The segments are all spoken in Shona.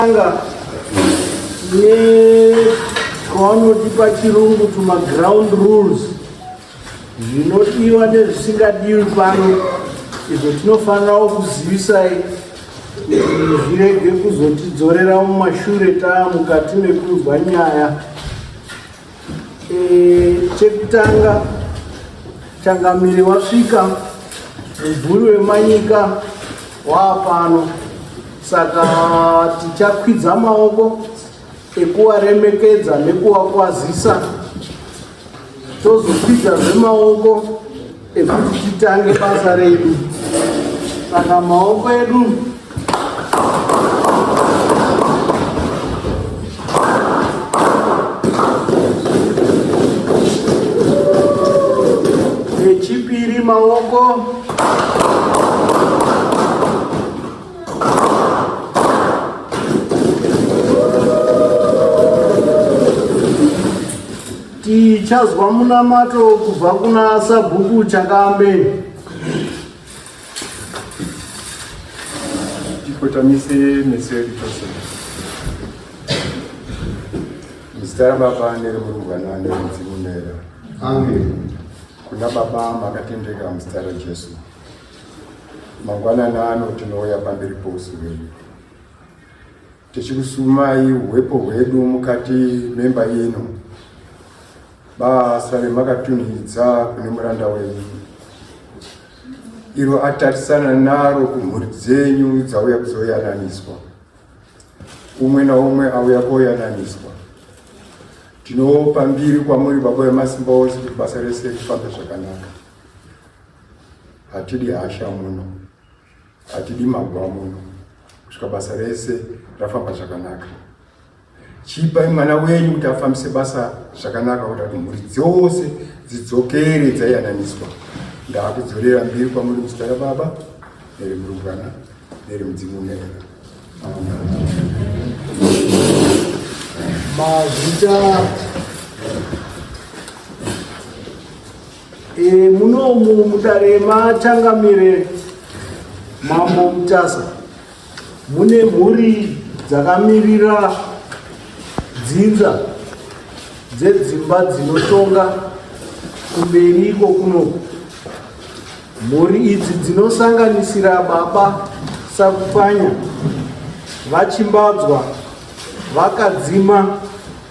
Tanga nevanoti pachirungu tuma ground rules zvinodiwa nezvisingadiwi pano izvo tinofanirawo kuzivisai zvirege kuzotidzorera mumashure taa mukati mekunzwa nyaya E, chekutanga changamire wasvika mubvuri wemanyika waapano saka tichakwidza maoko ekuwaremekedza nekuwakwazisa tozokwidza zvemaoko ekuti titange basa redu saka maoko edu echipiri maoko Tichazwa munamato kubva kuna Sabhuku Chakambe. Tikotamise meso edu tose. Muzita raBaba nereMurumbwana nereMudzimu Mera. Amen. Kuna Baba makatendeka muzita raJesu. Mangwanani ano tinouya pamberi pousu hwedu. Tichikusumai uhepo hwedu mukati memba ino, basa remakatunhidza kune muranda wenyu, iro atarisana naro kumhuri dzenyu dzauya kuzoyananiswa, umwe naumwe auya koyananiswa. Tinopa mbiri kwamuri Baba Vemasimba Ose kuti basa rese rifambe zvakanaka, hatidi hasha muno. Hatidi maguva muno kusvika basa rese rafamba zvakanaka. Chipai mwana wenyu kuti afambise basa zvakanaka kuita kuti mhuri dzose dzidzokere dzaiyananiswa. Ndakudzorera mbiri kwamuri muzita raBaba nerimurumbwana nerimudzimu mweya. Mazita E, munomu mudare machangamire mambo Mutasa mune mhuri dzakamirira dzinza dzedzimba dzinotonga kumberi iko kunoku mhuri idzi dzinosanganisira baba sakupanya vachimbadzwa vakadzima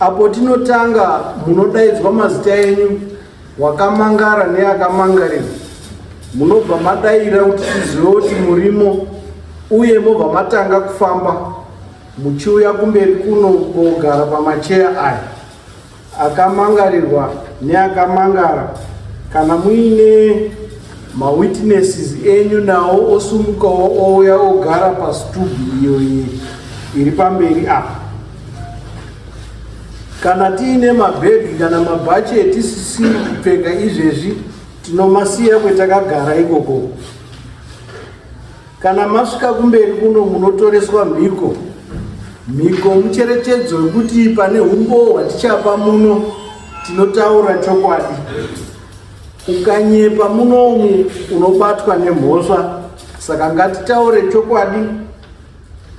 Apo tinotanga munodaidzwa mazita enyu wakamangara neakamangarira munobva madaira kuti tizive kuti murimo uye mobva matanga kufamba muchiuya kumberi kuno kogara pamacheya aya akamangarirwa neakamangara kana muine mawitnesses enyu nawo osumukawo ouya ogara pasitubu iyo iri pamberi apa Kana tiine mabhegi kana mabhachi etisisi kupfeka izvezvi tinomasiya kwetakagara ikoko. Kana masvika kumberi kuno munotoreswa mhiko. Mhiko mucherechedzo wekuti pane humbowo hwatichapa muno tinotaura chokwadi. Ukanyepa munomu unobatwa nemhosva saka ngatitaure chokwadi.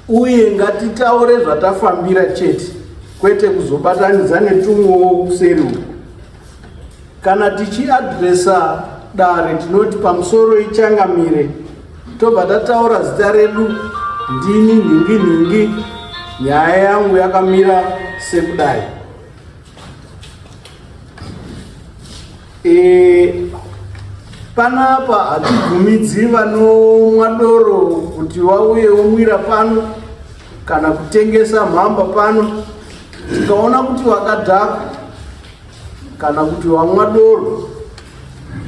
Uye ngatitaure zvatafambira chete kwete kuzobatanidza netumwewo kuseri uku. Kana tichiadresa dare tinoti pamusoro ichangamire tobva tataura zita redu ndini nhingi nhingi nyaya yangu yakamira sekudai. E, panapa hatibvumidzi vanomwa doro kuti vauye womwira pano kana kutengesa mhamba pano tikaona kuti wakadhaka kana kuti wamwa doro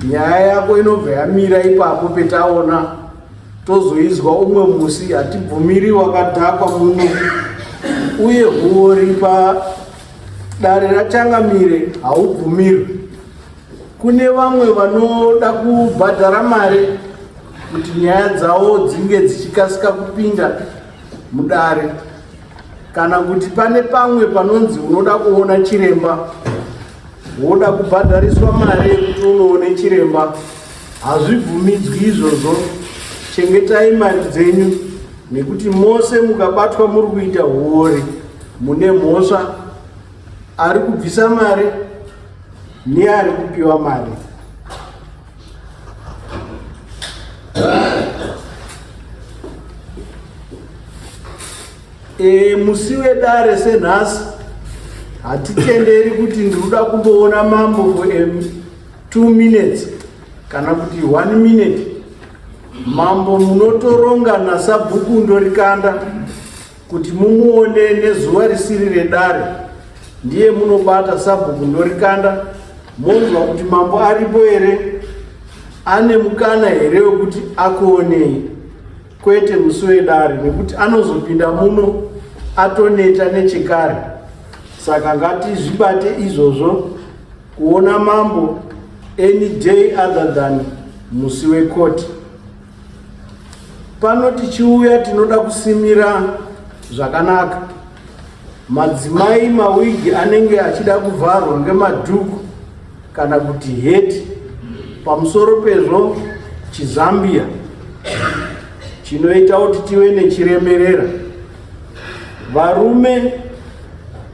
nyaya yako inobva yamira ipapo petaona tozoizwa umwe musi hatibvumiri wakadhakwa muno uye huori pa Dare raChangamire haubvumirwi. Kune vamwe vanoda kubhadhara mari kuti nyaya dzavo dzinge dzichikasika kupinda mudare kana kuti pane pamwe panonzi unoda kuona chiremba woda kubhadhariswa mari yekuti unoone chiremba hazvibvumidzwi izvozvo chengetai mari dzenyu Nekuti mose mukabatwa muri kuita huori mune mhosva ari kubvisa mari neari kupiwa mari. E, musi wedare senhasi hatitenderi kuti ndikuda kumboona mambo for two minutes kana kuti one minute Mambo munotoronga nasabhuku ndorikanda kuti mumuone nezuva risiri redare ndiye munobata sabhuku ndorikanda monzwa kuti mambo aripo here ane mukana here wekuti akuonei kwete musi wedare nekuti anozopinda muno atoneta nechekare saka ngatizvibate izvozvo Kuona mambo any day other than musi wekoti. Pano tichiuya tinoda kusimira zvakanaka. Madzimai mawigi anenge achida kuvharwa ngemadhuku kana kuti heti. Pamusoro pezvo chizambia chinoita kuti tive nechiremerera. Varume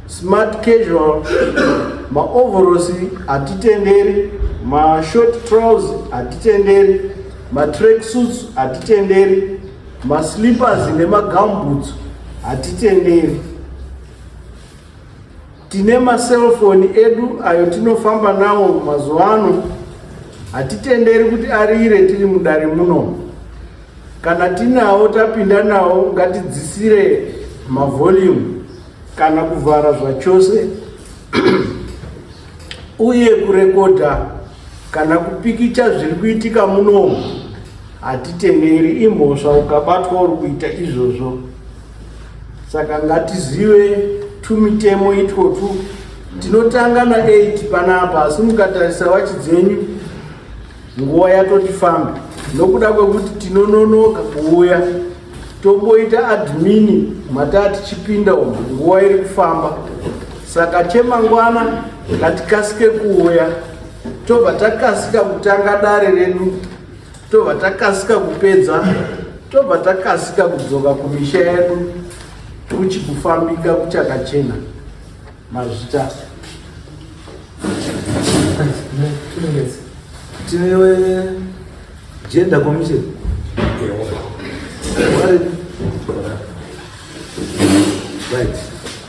smart casual maovhorosi hatitenderi mashort trouse hatitenderi matrack suits hatitenderi maslippers nemagamboots hatitenderi Tine maselfoni edu ayo tinofamba nawo mazuva ano, hatitenderi kuti arire tiri mudare muno. Kana tinawo tapinda nawo ngatidzisire mavolume kana kuvhara zvachose uye kurekodha kana kupikicha zviri kuitika muno hatitenderi, imhosva ukabatwa uri kuita izvozvo. saka ngatizive tumitemo itwotwu tinotanga na 8 panapa asi mukatarisa wachi dzenyu nguva yatoti famba nokuda kwekuti tinononoka kuuya tomboita admini mataa tichipinda umu nguva iri kufamba saka chemangwana ngatikasike kuuya tobva takasika kutanga dare redu tobva takasika kupedza tobva takasika kudzoka kumisha yedu kuchi kufambika kuchakachena mazvita tinewe jenda komishe right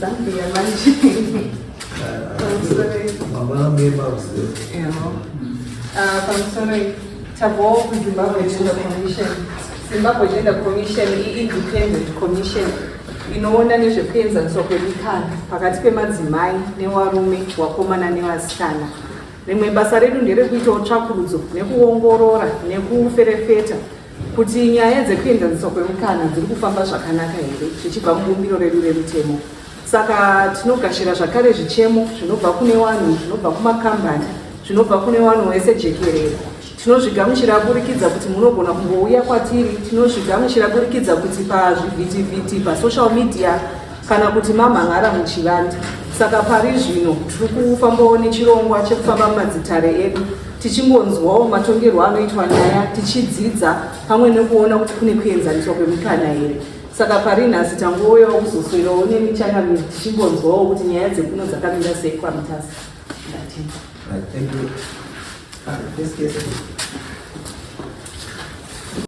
Zambia manje. pamusoro tabvawo kuzimbabwe gender commission zimbabwe gender commission iindependent commission inoona nezvekuenzaniswa kwemikana pakati pemadzimai newarume wakomana nevasikana rimwe basa redu nderekuitawo tsvakurudzo nekuongorora nekuferefeta kuti nyaya dzekuenzaniswa kwemukana dziri kufamba zvakanaka here zvichibva mubumbiro redu remutemo saka tinogashira zvakare zvichemo zvinobva kune vanhu zvinobva kumakambani zvinobva kune vanhu wese jekerere tinozvigamuchira aburikidza kuti munogona kungouya kwatiri tinozvigamuchira aburikidza kuti pazvivhitivhiti pasocial media kana kuti mamhan'ara muchivande. Saka pari zvino tiri kufambawo nechirongwa chekufamba mumadzitare edu tichingonzwawo matongerwo anoitwa nyaya tichidzidza pamwe nekuona kuti kune kuenzaniswa kwemikana here saka pari nhasi tangouyawo kuzoswerawo nemi changamiri tichingonzwawo kuti nyaya dzekuno dzakamira sei kwamutasa Right, thank you. Uh, this case.